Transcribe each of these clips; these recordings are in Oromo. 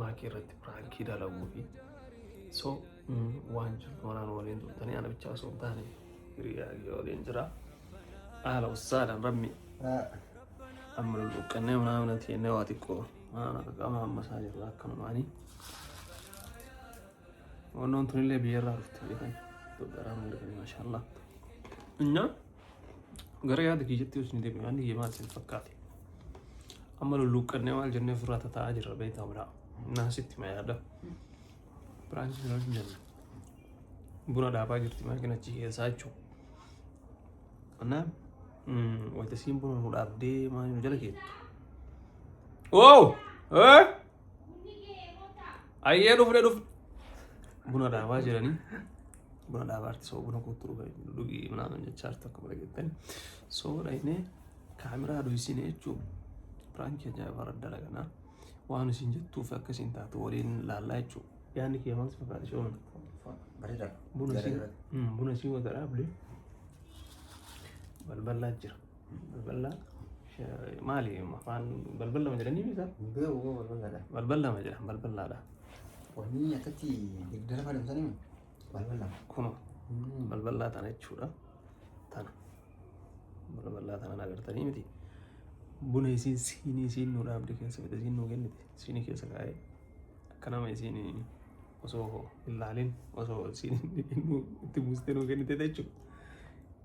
maakii irratti piraankii dalaguu fi so waan jirtu maraan waliin turtanii ana bichaa osoo hin taane hiriyaa kiyya waliin jira haala ussaadhaan rabbi amma lulluqqannee manaa mana teennee waa xiqqoo manaan akka qaama ammasaa jirra akkanumaanii wannoon tunillee biyyarraa dhufte beekan Itoophiyaarraa mana dhufanii maashaallah. Nyaa. Gara yaada kiyyatti yoo isin deebi'an niyya maal isin fakkaate? Amma lulluuqqannee maal jennee ofirraa tataa'aa jirra beektaa biraa. Naasitti ma yaada. Biraan isin hin jennu. Buna dhaabaa jirti maakina achi keessaa jechuudha. Kanaaf wayita isiin buna nu dhaabdee maal nu jala geettu. Oo! Eh! Ayyee dhufne dhufne. Buna dhaabaa jiranii. Buna dhaabaa arti soo buna kootu dhugaa dhugii minaaman jechaa arti akkuma dhageettani. Soo dhaynee kaameraa dhoysine jechuun piraankii ajaa'ibaa irra dalaganaa. Waan isin jettuu fi akka isin taatu waliin laallaa jechuudha. Yaanni kee maal si fakkaata shooma? Bareedaadha. Buna si buna si wata dhaabde balbalaa jira. Balballa maali afaan balballama jedhanii misa? Beeku koo balballadha. Balballama jedhan balballaadha. Wanni akkatti degdara fayyadamsanii mi? Balballama. Kuno balballaa tana jechuudha. Tana balballaa tana agartanii miti. Buna isiin siinii isiin nuu dhaabde keessa fide isiin nuu kennite siinii keessa kaa'ee akka nama isiin osoo hin laalin osoo isiin itti buustee nuu kennite jechuudha.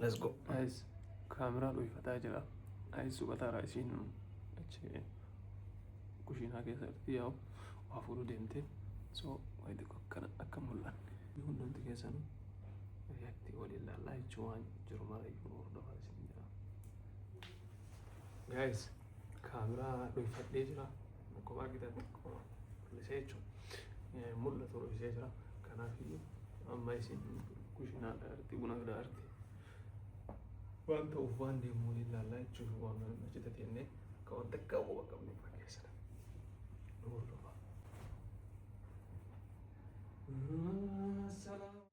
Let's go. Ayis kaameraa dhuunfataa jira. Ayis suphataara isiin achi kushiinaa keessatti yaa'u waa fuudhuu deemte. So wayi xiqqoo akkana akka mul'anne. Hundumti keessanuu react waliin laallaa jechuun waan jiru mara iyyuu hordofaa isin jira. Guys kaameraa dhuunfadhee jira. Akkuma argitan xiqqoo bal'isee jechuudha. Mul'atu dhoksee jira. Kanaaf amma isin kushinaa dhaarti buna dhaarti. Waan ta'uuf waan deemu waliin laallaa jechuuf waan mana hojjeta teennee akka waan takka quba qabnu irraa keessadha. Nuur dhufa. Salaam.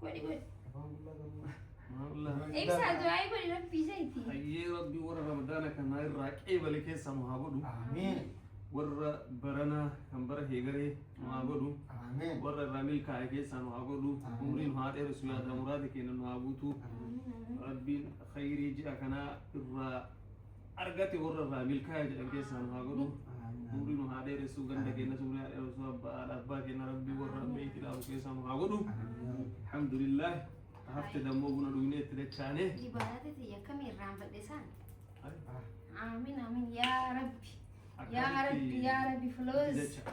Godhi godhi. Afaan qullaa qabuu. Maarlaa. Ibsa du'aa'ii godhi rabbii isaati. Hayyee rabbi warra ramadaana kanaa irraa qeebale keessaa nu haa godhu. Ameen. Warra baranaa kan bara heegaree nu haa godhu. Ameen. Warra irraa milkaa'e keessaa nu haa godhu. Ameen. Umrii nu haa dheeressu yaada muraada keenya nu haa guutu. Rabbiin khayrii ji'a kanaa irraa argate warra irraa milkaa'e jedhan keessaa nu haa godhu umri nu haa dheeressu ganda keenyas umri haa dheeressu abbaa haadha abbaa keenya rabbi warra amma itti dhaabu keessaa nu haa godhu alhamdulillah hafte dammoo buna dhugnee itti dachaane Ibaadata ta'e akkamii irraan badhe isaan? Amiin amiin yaa rabbi. Yaa rabbi yaa rabbi filoos. Dacha.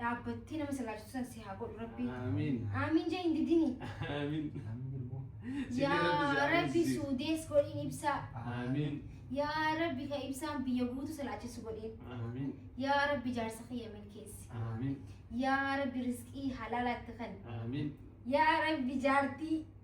dhaabbattee nama sallaachisu san si haa godhu rabbi Aamiin. aamiin jee hin didini Aamiin. yaa rabbi suudees godhiin ibsaa Aamiin. yaa rabbi ka ibsaan biyya guutu salaachisu godhiin Aamiin. yaa rabbi jaarsa kiyya milkeessi Aamiin. yaa rabbi risqii halaalaatti kan Aamiin. yaa rabbi jaartii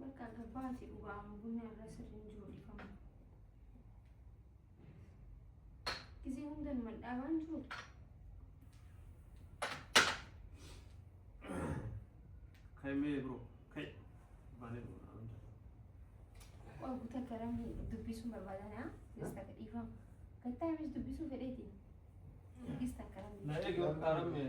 Bakka gabbaati dhugaa amma bunni har'aa sirri hin jiru dhiifama. Gisee hunda numa dhaabaan jiru. Kai mee bro. Kai. Baanee bro. Naan hunda. Waa guutaa garam dubbisuun barbaadanaa gisee takka dhiifama. Gattaa amis dubbisuu fedheeti. Gisee takka garam. Na eegi warqaa rammee.